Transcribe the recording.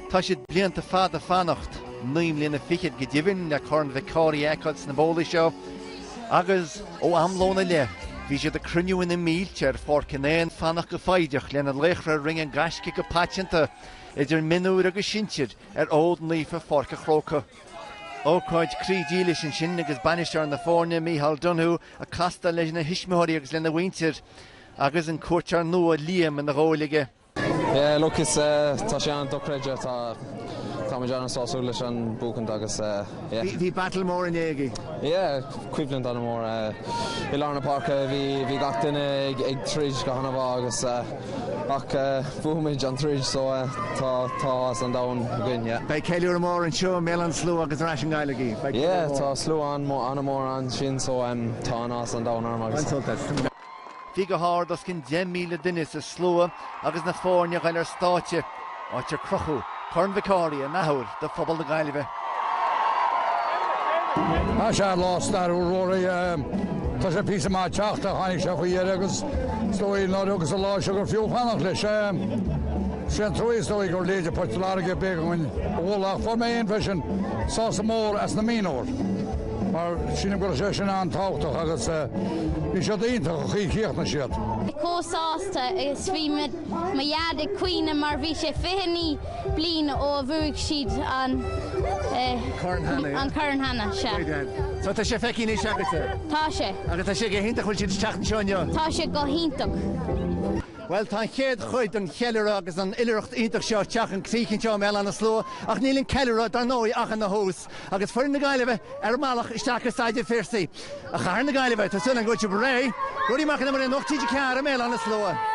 Tá siad blianta fada ag fanacht, naoi mbliana fichead go deimhin, le Corn Mhic Cárthaigh a fheiceáil sna bólaí seo agus ó am lóin i leith bhí siad ag cruinniú ina mílte ar Pháirc an Éin, ag fanacht go foighdeach lena laochra a rinne an gaisce go paiteanta, idir mionúir agus sinsir, ar fhód naofa Pháirc an Chrócaigh. Ócáid croí dílis ansin agus bainisteoir na foirne, Micheál Donoghue, ag castáil lena thuismitheoirí agus lena mhuintir agus an cuairteoir nua Liam ina ghabháil aige. Yeah look is tá sé an-dochreidte tá táimid an-sásúil leis an buachaint agus yeah. Bhí battle mór inné agaibh. Yeah coimhlint an-mhór i lár na páirce bhí gach duine ag troid go han-mhaith agus ach bhuamar an troid so tá tá áthas an domhain againn yeah. Beidh ceiliúradh mór anseo i mBéal Átha na Sluaighe agus ar ais i nGaillimh. Yeah tá slua an-mhór ansin so tá an-áthas an domhain orm agus. An-sultas. Bhí go hard os cionn 10,000 duine sa slua agus na foirne ag goil ar stáitse, áit ar crochadh Corn Mhic Cárthaigh an athuair do phobal na Gaillimhe. Tá sé an lá stairiúil Ruairí. Tá sé píosa maith ag teacht. Tháinig sé faoi dheireadh agus is dóigh an uair agus an lá seo gur fiú fanacht leis. Sé an trua is dóigh gurb iad Port Láirge ab éigean dúinn a bhualadh ach fuair mé fhéin freisin sásamh mór as na mionúir. Mar sílim go raibh sé sin an-tábhachtach agus bhí siad iontach an chaoi a chríochnaigh siad. chomh sásta is bhí mo dheaid ag caoineadh mar bhí sé 29 bliain ó a bhuaigh siad an corn cheana. Sea. Tá sé feicthe anois agatsa? Tá sé. Agus tá sé go hiontach go bhfuil siad ag teacht anseo inniu? Tá sé go hiontach. Bhuel tá an chéad chuid den cheiliúradh agus an oilithreacht iontach seo ag teacht chun críche anseo i mBéal Átha na Sluaighe ach níl an ceiliúradh, dar ndóigh, ach ina thús. Agus foireann na Gaillimhe ar an mbealach isteach ar Staid an Phiarsaigh i gcathair na Gaillimhe, tá súil againn go bhfuil siad réidh. Ruairí Mac an Iomaire, Nuacht TG4 i mBéal Átha na Sluaighe.